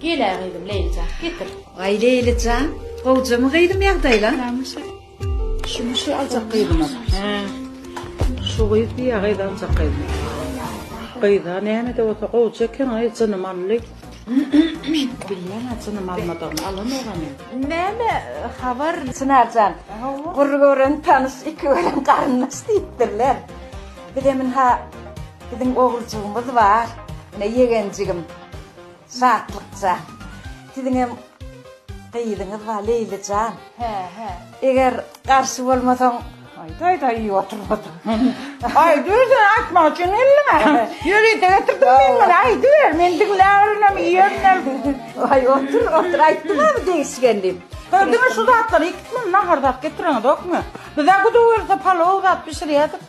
Gel-ä gyzym Leýlijan, getir. Aý Leýlijan, gowjamy gyzym ýagdaýlaň? Şuny şu aljak gyzyma. Hä. Şu gyz diýýä gyz aljak gyzyma. Gyza näme-de bolsa gowja eken, aý jynym aldy. Bilýän-ä jynym almadygyny, alanogam-ä. Näme habar? Çynar jan, bir gören tanyş, iki gören garyndaş diýipdirler. Bizem ynha, biziň oguljygymyz bar, ine ýegenjigim. Şatlykja. Siziňem gyzyňyz bar Leýli jan. Hä, hä. Eger garşy bolmasaň, aýda aýda iýip oturyp otur. Aýdy özüne aýtmak üçin geldim a. Ýörite getirdim men muny aýdyber men diňläberenem iýerenem. Aý otur otur aýtdyňamy degişgen diýip. Hä diňe şu zatlary ikisini nahar zat getireňizokmy? Bizä guda gelse palow zat bişirýädik.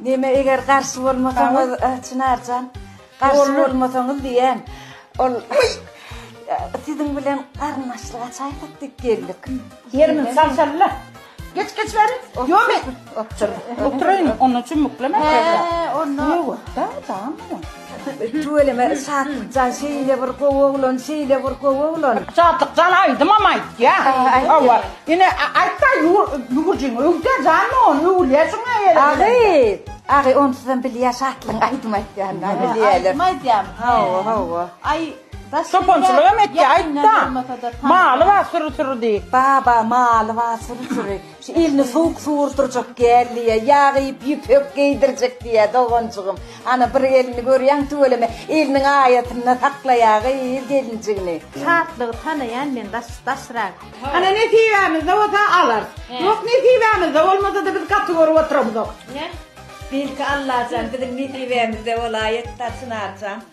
Neme eger garşy bolmasaňyz Çynarjan garşy bolmasaňyz diýýän ol siziň bilen garyndaşlyk açaýsak diýip geldik. Ýerimiz sal salla. Geç geç bäri. Ýomy. Otur. Oturaýyn. Onuň üçin muklemem. He onda. Ýok da. Tamam. Tüweleme Şatlykjan şeýle bir gowy oglan şeýle bir gowy oglan. Şatlykjan aýdymam aýtýa. Hawa. Ine aýtda ýüwürjiň öwdä jan ony öwülýä şuňa ýere. Agyz. Agy onsuzam bilýä Şatlygyň aýdym aýtýanyny bilýäler. Aýdym aýdýam. Hawa hawa. Aý Çopançylygam etýä aýtda. Maly bar süri süri diý. Baba maly bar süri süri. Şu elini sowuk suwurdyrjak gel diýýär, ýag iýip ýüpek geýdirjek diýýär doganjygym. Ana bir elini görýäň tüweleme, eliniň aýatynda saklaýagyz gelinjigini. Şatlygy tanaýan men daş daşrak. Ana nesibämizde bolsa alarys. Ýok nesibämizde bolmasada biz gaty görüp oturamzok. Belki Allajan biziň nesibämizde bolaýatda Çynarjan.